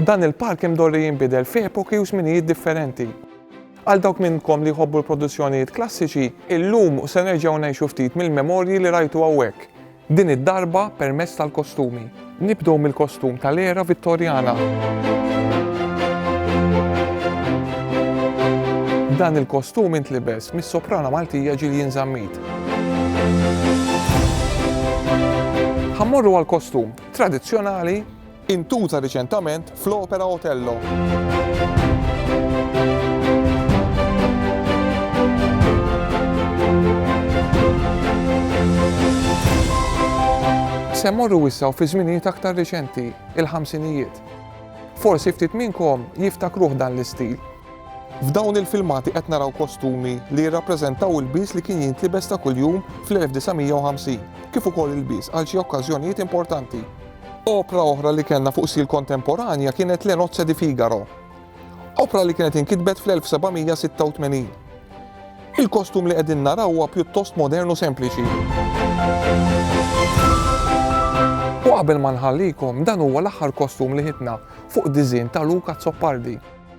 Dan il-park imdorri jinbidel fi epoki u żminijiet differenti. Għal dawk minnkom li jħobbu l-produzzjonijiet klassiċi, illum se nerġgħu ngħixu ftit mill-memorji li rajtu hawnhekk, din id-darba permezz tal-kostumi. Nibdew mill-kostum tal-era Vittorjana. Dan il-kostum intlibes mis-soprana Maltija Jillian Zammit. Ħammorru għal kostum tradizzjonali intuża riċentament fl-opera Otello. Se mmorru wissa u fi żminijiet aktar riċenti, il-ħamsinijiet. Forsi ftit minnkom jiftakruh dan l-istil. F'dawn il-filmati qed naraw kostumi li jirrappreżentaw ilbies li kien jintlibes ta' kuljum fl-1950, kif ukoll ilbies għal xi okkażjonijiet importanti. Opra oħra li kellna fuq sil kontemporanja kienet Le Nozze di Figaro, opra li kienet inkitbet fl-1786. Il-kostum li qegħdin naraw huwa pjuttost modern u sempliċi. U qabel ma nħallikom, dan huwa l-aħħar kostum li ħitna fuq diżin ta' Luca Zoppardi.